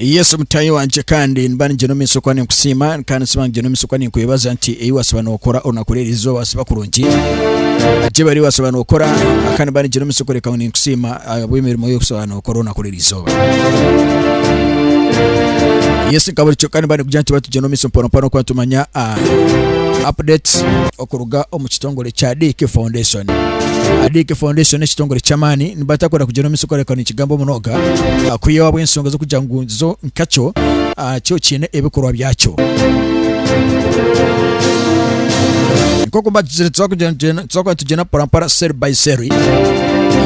yesu mutayi wangye kandi niba ningira omu isoko ninkusiima kandi siba ningira omu isoko ninkwebaza nti ei wasiba nookora onakora eri izooba siba kurungi agyebari wasiba nookora kandi niba ningira omu isoko reka ninkusiima ahabw'emirimo y'okusiba okwo orwo nakora eri izooba. Yes nka buri kyoka niba nikugira nituba tugyenda omu maiso mpora mpora kuba nitumanya ah, updates okuruga omu kitongore kya Dick Foundation. Ah, Dick Foundation n'ekitongore ky'amaani nibatakwenda kugyenda omu maiso kukoreka nikigamba omunonga ah, kwihaho ahabw'ensonga z'okugira ngu zo nkakyo ah, kyo kiine ebikorwa byakyo. Nk'oku mbatuzire tuza kugira nitugyenda tuzakuba nitugyenda mporampora cell by cell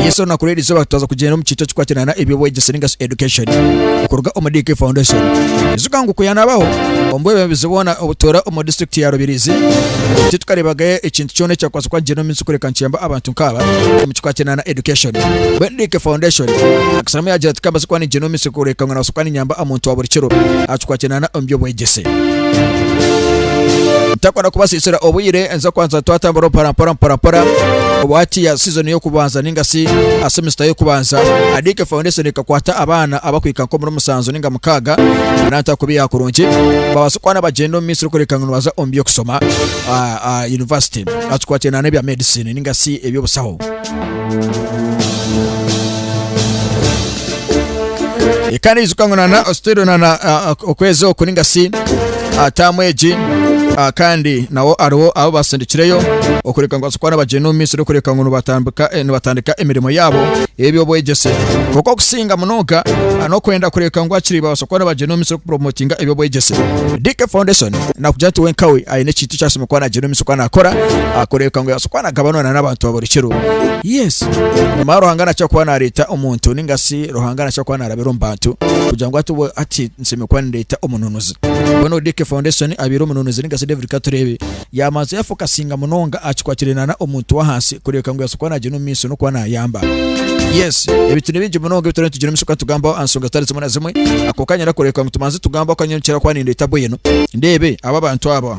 yesu olunaku rw'eri izooba twaza kugyenda omu kiikyo kikwatirana eby'obwegyese ninga shi education okuruga omu DK Foundation eziga ngu kuyanabaho omu bwebembezi bwona obutoora omu district ya Rubirizi eki tukarebagayo ekintu kyona ekyakwasa kuba nikigyenda omu minsi kureka nikiyamba abantu nk'aba omu kikwatirana education bwe DK Foundation akasiramu yagira ati kambaze kuba nigyenda omu minsi kureka ngu nabaasa kuba ninyamba omuntu wa buri kiro aha kikwatirana omu by'obwegyese ntakunda kubasiisira obwire nza kwanza twatambura mpora mpora mpora mpora obu hati ya season y'okubanza ninga si a semester y'okubanza adike foundation ekakwata abaana abakwika nkomuri musanzu ninga mukaaga nanta kubi ya kurungi babaasa kwana bagyenda omu minsi erikureka ngu nibaza omu by'okusoma ah, ah, university atukwatire nana ebya medicine ninga si eby'obusaho ikaniijuka ngu nana ositwire nana okwezi oku ningasi ataamu egi kandi nawo ariwo abo basindikireyo okureka ngu basikwana bagyenda omu misiri okureka ngu nibatandika emirimo yaabo eby'obwegyese kuko okusinga munonga n'okwenda kureka ngu akiri basikwana bagyenda omu misiri kupromotinga eby'obwegyese DK Foundation nakugira nti wenkawe aine ekintu ekyasima kuba nagyenda omu misiri kuba nakora akureka ngu Tukaba nagabanana n'abantu ba buri kiro. Yes. Nyima Ruhanga nakira kuba nareeta omuntu ninga si Ruhanga nakira kuba narabira omu bantu kugira ngu ati ati nsemire kuba nindeeta omununuzi. Mbwenu ODK Foundation abaire omununuzi ninga si David Katureebe yamanza yafokasinga munonga aha kikwatiraine na na omuntu w'ahansi kureebeka ngu yabaasa kuba nagyenda omu maisho n'okuba nayamba. Yes. Ebintu ni bingi munonga ebi turiyo nitugira omu isho kuba nitugambaho aha nshonga zitari zimwe na zimwe. Akonka nyenda kureebeka ngu tubanze tugambe aha ku nikira kuba nindeeta bwenu ndeebe abu abantu aba.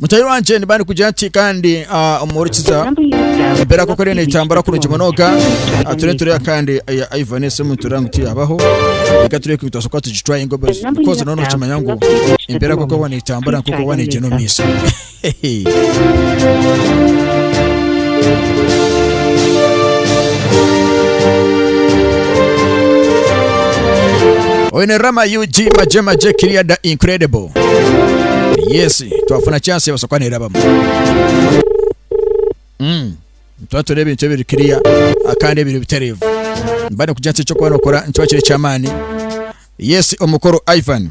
mutari wangye niba nikugira nti kandi ah, omuhurikiza embeera koko rero nitambura kurungi munonga Ah, turiyo tureba kandi eya ivan esimu nitureba ngu tiyabaho reka turebe ku bitwasoboka tugitwaye ngo bikoze nono okimanya ngu embeera koko bona itambura nk'oku bona egyenda omu maiso Oyo ni Rama UG Maje Maje Kiria the Incredible. Yes, twafuna chance ebasa kuba nerabamu. Mm. Tuba tureba ebintu ebiri kiria akandi ebiri biterevu. Mba nikugya nti ekyokuba nokora nikiba kiri eky'amaani. Yes, omukuru Ivan.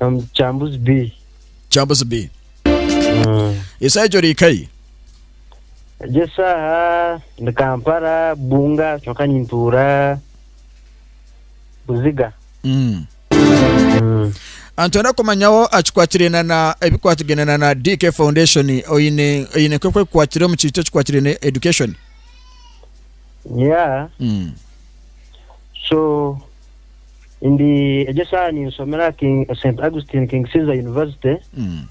Omu Chambuzi B. Chambuzi B. Esaaha egi ori ka yi? Egi esaaha ndi Kampala, Bunga kyonka nintuura Buziga. Mm. Ah, Nitwenda kumanyaho akikwatirana na ebikwatirana na DK Foundation oyine oyine nk'oku ekukwatire omu kiito ekikwatirane education. Yeah, Mm. so Ndi egi eshaaha ninshomera King, St Augustine King Caesar University Mm.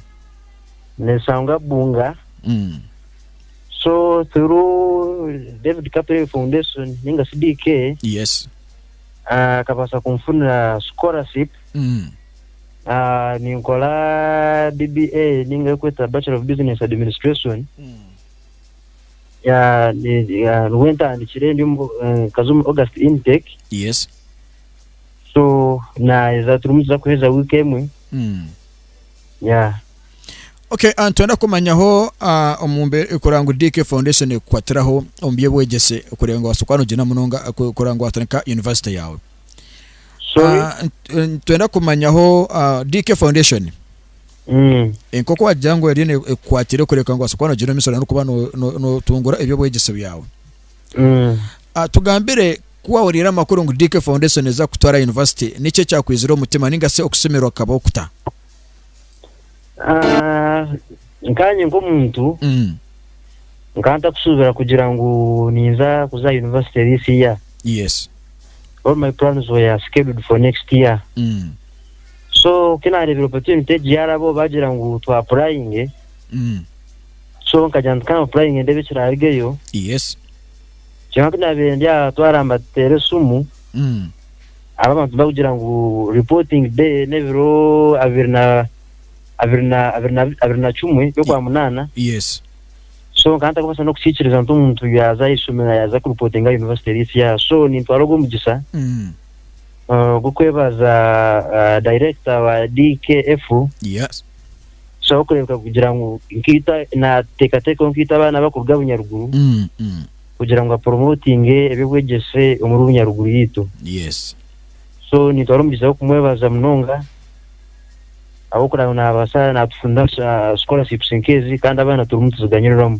neshangwa Bunga Mm. so through David Kapere Foundation ninga shi DK Yes. ah, akabaasa kunfunira scholarship Mm. Ah, ninkora BBA ninga erikwetwa Bachelor of Business Administration Mm. ya- ne- ya- nibwo ntandikire ndi omu- eh, nkaza omu august intake yes so naheza turimu tuza kuheza wiiki emwe Mm. ya okay ah, nitwenda kumanyaho ah, omu mbe- kureba ngu dk foundation ekukwatiraho omu by'obwegyese kureba ngu wabaasa kuba nogyenda munonga ah, ku- kureba ngu watandika university yaawe sorry Ah, nt- eh, nitwenda kumanyaho ah, dk foundation Nk'oku waagira ngu eriyo nekukwatira ekureka ngu obaase kuba noogira omu ishomero n'okuba nootungura eby'obwegyese bwawe. Tugambire ku waahuriire amakuru ngu DK Foundation neeza kukutwara yunivasite, niki ekyakwizire omu mutima ninga shi okusimirwa kukabaho kuta? Nkanye nk'omuntu, nkaba ntakushuubira kugira ngu ninza kuza aha yunivasite this year. All my plans were scheduled for next year. so ku naareebire opportunity egi yaaraba obu baagira ngu twapurayinge Mm. so nkagira nti ka mpurayinge ndeebe ekiraarugeyo Yes. kyonka ku naabaire ndi aha twaramba tuteera esimu Mm. aba abantu bakugira ngu reporting day n'ebiro abiri na abiri na abiri na abiri na kimwe by'okwa munaana Yes. so nkaba ntarikubaasa n'okukiikiriza nti omuntu yaaza aha ishomero yaaza kuripotinga yunivasite eri eti yaaha so nintwara ogwo mugisha Mm. ogw'okwebaza dayirekita wa DKF tusheho kureebeka kugira ngu nkaita naateekateekaho nkaita abaana abakuruga Bunyaruguru mm, mm. kugira ngu aporomotinge eby'obwegyese omuri Bunyaruguru yaitu so nitwara omugizi w'okumwebaza munonga ahabw'okugira ngu naabaasa naatufunira ah, scholarships nk'ezi kandi abaana turimu nituziganyiriramu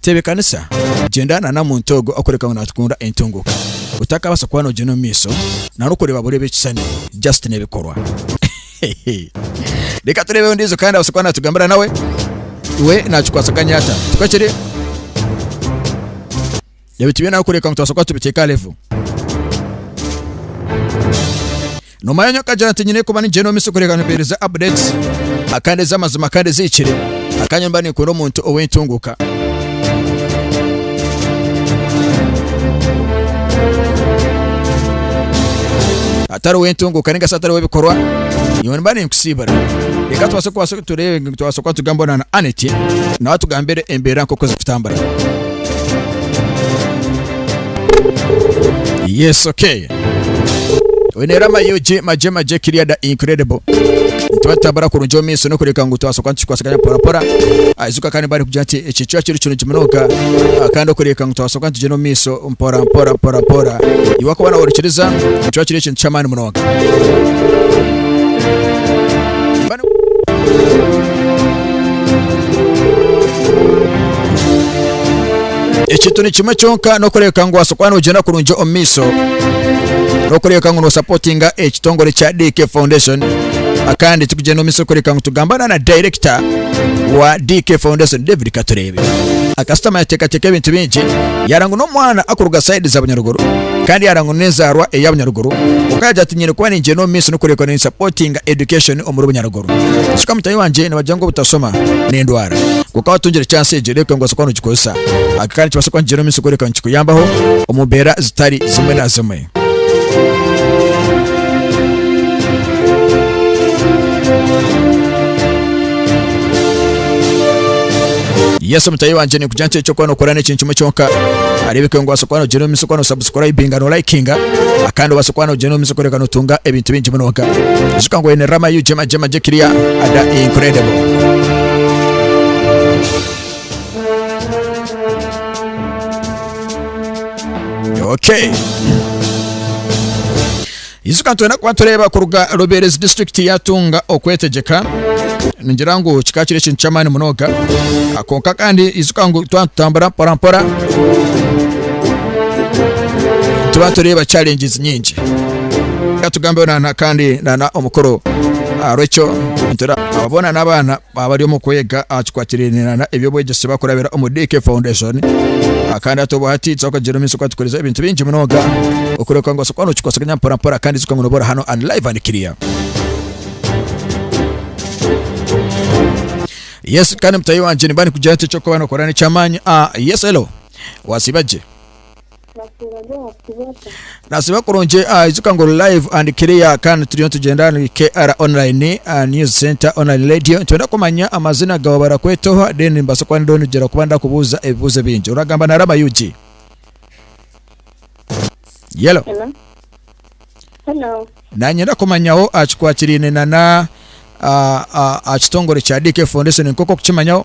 Tebeekanisa, gyenda na na muntu ogwo orikureebeka ngu naatukunda entunguka. Otakabaasa kuba noogyenda omu maisho na n'okureeba bureeba ekishushani, just n'ebikorwa. Reka tureebe ondiijo kandi abaase kuba naatugambira nawe we naakikwatsaganya ata. Tikwo kiri? Ebi tibyine ahabw'okureebeka ngu tubaasa kuba tubiteeka aha level. Noma yanyu akagira nti nyine kuba nigyenda omu misyo kureka nkuhereza updates ah, kandi ez'amazima kandi ezihikire akanya mba ninkunda omuntu ow'entunguka atari ow'entunguka ninga se atari ow'ebikorwa iwe mba ninkusiibura reka tubase kubasa turebe tubasa kuba tugamba na aneti nawe atugambire embeera nk'oku zikutambura yes okay Oine rero amayugi magye magye kiriya da incredible nituba tutambura kurungi omu maiso n'okureka ngu twasoka nitukwatsagana porapora aijuka kandi bari kugira nti eki kiba kiri kirungi munonga Ah, kandi okureka ngu twasoka nitugyenda omu maiso mpora mpora mpora mpora iwe wakuba nawe orikiriza nikiba kiri ekintu ky'amaani munonga Bano- ekintu ni kimwe kyonka n'okureebeka ngu waabaasa kuba noogyenda kurungi omu maisho n'okureebeka ngu noosapotinga ekitongore kya DK Foundation akandi kikugyenda omu maisho kureebeka ngu tugambana na dayirekita wa DK Foundation David Katureebe akasitama yateekateeka ebintu bingi yaara ngu n'omwana akuruga sayidi za Bunyaruguru kandi yaara ngu n'enzaarwa eya Bunyaruguru kwonka yaagira ati nyine kuba nigyenda omu maisho n'okureebeka ninsapotinga education omuri Bunyaruguru Kishusha mutaahi wangye nibagira ngu obutashoma n'endwara. Kwonka waatungire chance egyo reeka nibaasa kuba noogikoresa. Aga kandi nikibaasa kuba nikigyera omu maisho kworeka ngu nikikuyambaho omu mbeera zitari zimwe na zimwe. Yesu mutaahi wangye kugira nti ekyo kuba nokora n'ekintu kimwe kyonka areebeke ngu obaasa kuba nogyenda omu maisho kuba nosubscribinga no likinga kandi obaasa kuba nogyenda omu maisho kureka notunga ebintu bingi munonga ijuka ngu oyine rama yu gyema gyema gye kiriya ada incredible okay Ijuka ka nitwenda kuba nitureeba kuruga Ruberezi disiturikiti yaatunga okwetegyeka. Ningira ngu kikaba kiri ekintu ky'amaani munonga. Kwonka kandi ijuka ngu twaba nitutambura mporampora tuba nitureeba challenges nyingi ka tugambeho nana kandi nana omukuru aharw'ekyo nitura abo boona n'abaana Baaba bari omu kwega aha kikwatirainirana eby'obwegyese bakurabira omuri DK Foundation kandi hati obu hati twakagira omu maisho kwatukorize ebintu bingi munonga okureebeka ngu osobora nokikwasaganya mpora mpora kandi kikaba ngu noba ori hanu and live and clear. Yes kandi mutahi wangye nimba nikugira nti eky'okuba nokora n'eky'amaani. Ah yes hello wasiiba gye. Nasiiba kurungi ah, ijuka ngu ori live and clear kandi turiyo nitugyenda ni KR online ah, news center online radio nitwenda kumanya amazina gawe barakweta oha then nimbaasa kuba ndiho nigira kuba ndakubuuza ebibuuzo bingi oragamba na Rama Yugi Yellow Hello. Hello. nanye ndakumanyaho aha kikwatiraine na na ah, ah, aha kitongore kya DK Foundation nk'oku okukimanyaho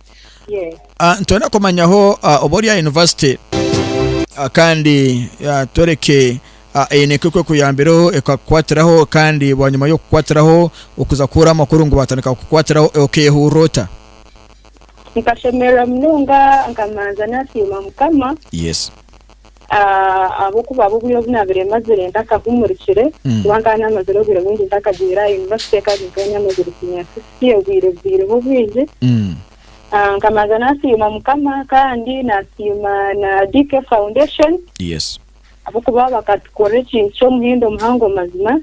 Yes. Ah, nitwenda kumanyaho ah, oba ori aha university Ah, kandi ah, twereke ah, eine nka ekwekuyambireho ekakukwatiraho kandi bwanyima y'okukwatiraho okuza kuhurira amakuru ngu batandika kukukwatiraho eh, okeyehurira ota Nkashemererwa munonga nkamanza nasiima mukama yes Ahabw'okuba abu obwire obu naabaire mazire ntakahumurikire, kuba nkaba naamazire obwire bwingi ntakagwire aha yunivasite kandi nkaba naamazire siiniya sikisi obwire bubaireho bwingi. Nkabanza naasiima Mukama kandi naasiima na DK Foundation ahabw'okuba bakatukorera ekintu ky'omuhendo muhango mazima.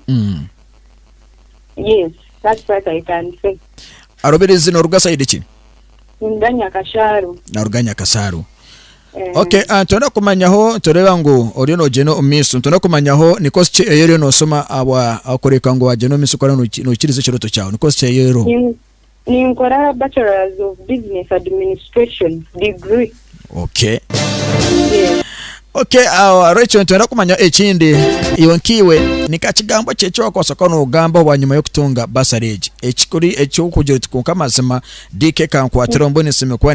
Arobire zina oruga sayidi ki? Naaruga Nyakashaaro. Ok, nitwenda kumanyaho nitureeba ngu oriyo nogyenda omu maiso, nitwenda kumanyaho ni kosi ki ei oriyo noshoma ahabw'okureebeka ngu wagyenda omu maiso kandi oriyo noikiriza ekirooto kyawe, ni kosi ki ei oriho? Ninkora aha Bachelors of Business Administration degree. Ok. Ok, ahabw'ekyo nitwenda kumanya ekindi, iwe nkaiwe ni nkaha kigambo ki eki waakubaasa kuba noogambaho bwanyima y'okutunga bursary egi, eki orikugira oti kwonka mazima DK kankwatireho mbwenu nsiime kuba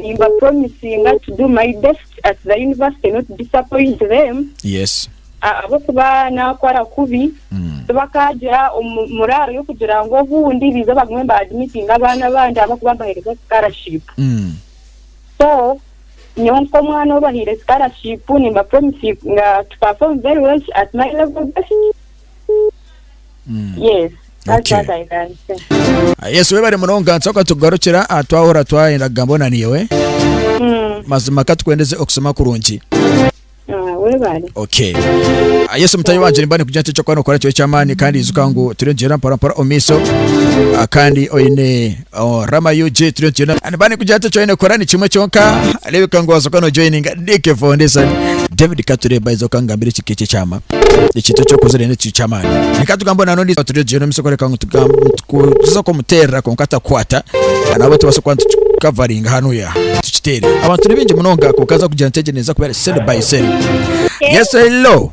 Nimba promisinga to do my best at the university not disappoint them Yes. ahabw'okuba naakora kubi Mm. tibakaagira omu- muraaro y'okugira ngu obundi baije bagume ba admitting abaana abandi ahabw'okuba mbaheereza scholarship. Mm. So nyowe nk'omwana ou bahaire scholarship nimba promisinga to perform very well at my level best. Yes. That's Okay. what I can say. Ah, yesu webare munonga nsoka tukugarukira ah, twahura twayenda kugambo na niiwe Mm. mazima katukwendeze okusoma kurungi Ah, webale. okay Ah, yesu mutayi wanje nimba nikugira nti ekyokuba nokora kibe ky'amaani kandi ijuka ngu turi nigyenda mpora mpora omu maiso Ah, kandi oine Oh, Rama UG turiyo nitugenda and bani kugira ati joine kora ni kimwe kyonka arebeka ngu wazoka no joininga DK Foundation David Kature by zoka ngambire ekika ekye kyama ekintu ekyokuzire n'ekintu ky'amaani reka tugambe na nondi turiyo tugenda omu isoko reka ngu tugambe tuza kumuterera konka atakwata na nabo tubasa kuba nitukikavaringa hanu ya tukitere abantu ni bingi munonga konka aza kugira nti egyo neza kubera sell by sell yes hello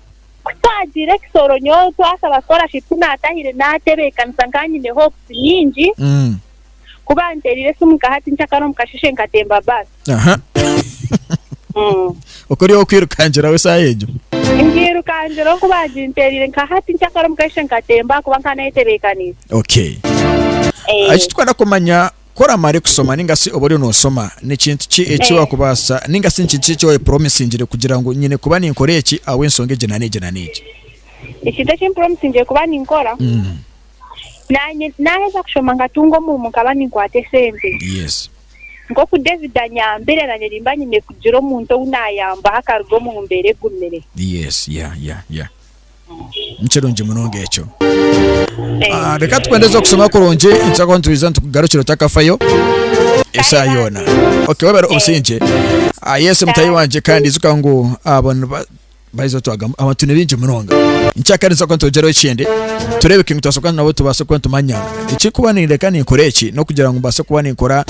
Ku twagiire ekisoro nyowe twasaba scholarship ku naatahire naatebeekanisa nka nyine hopes nyingi Mm. ku banteereire esimu nka hati ncakara omu kasheshe nkatemba bus. Aha. Mm. Okwo ori ow'okwirukangiraho esaaha egyo. Ngiirukangiraho ku baaginteereire nka hati ncakara omu kasheshe nkatemba ahakuba nkaba nayetebekaniise. Okay. Eh. Eki tukwana kumanya Ku oramare kushoma ninga shi obu oriyo noshoma, ni kintu ki eki wakubaasa ninga shi ni kintu ki eki wayepuromisingire kugira ngu nyine kuba ninkora eki ahabw'enshonga egi na n'egi na n'egi? Ekintu eki mpuromisingire kuba ninkora, naanye naaheza kushoma nkatunga omurimo nkaba ninkwata esente. Yes. Nk'oku David anyambire, naanye nimba nyine kugira omuntu ou naayambaho akaruga omu mbeera egumire. Yes, yeah, yeah, yeah. Nikirungi munonga ekyo. Ah, reka tukwendeze okusoma kurungi nitutakuba nitwiza nitukugarukira otakafayo eshaaha yoona okay webare obusingye ah, yesu mutahi wangye kandi ijuka ngu abo niba- baiza otwagamu abantu ni baingi munonga nkyakare nituza kuba nitwegyereho ekindi tureebe ki nitubaasa kuba nabo tubaase kuba nitumanya ekikuba nindeka ninkora eki n'okugira ngu mbaase kuba ninkora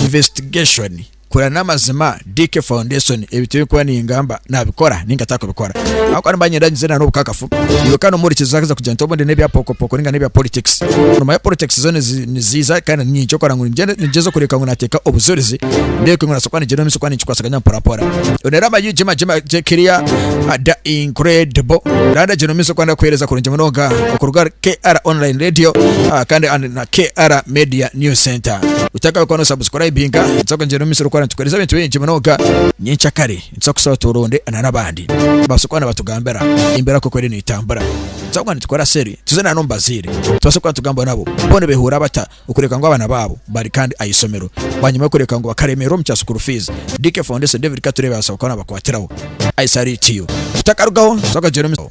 investigation Kurira n'amazima DK Foundation ebi tibinkuba ningamba nabikora ninga takubikora ahakuba nimba ninyenda nyize na n'obukakafu iwe kandi omuhurikizi ahaza kugira nti obundi n'ebya pokopoko ninga n'ebya politics nomanya politics zo nizi niziiza kandi niinye ekyokora ngu ningyenda ningyeza okureebeka ngu nateeka obujurizi ndeebeke ngu nabaasa kuba nigyenda omu maisho kuba ninkikwasaganya mporampora Onera amayugi magye magye kiriya ada incredible Nda ndagyenda omu maisho kuba ndakuheereza kurungi munonga okuruga ahari KR Online Radio ah, kandi and na KR Media News Center. Utakakora no subscribinga, nitsa kwingira omu misiri okora nitukuhereza ebintu bingi munonga. Nyenkya kare nitsa kusaba turunde na n'abandi babaase kuba nibatugambira embeera nk'oku eriyo neetambura. Nitsa kuba nitukora seri tuze na n'omu bazaire tubaase kuba nitugambaho nabo bo nibeehurira bata okureka ngu abaana baabo bari kandi aha ishomero bwanyima y'okureka ngu bakaremererwa omu kya school fees. DK Foundation David Katureebe abaasa kuba naabakwatiraho aha isaha eri tiyo. Utakarugaho, nitsa kwingira omu.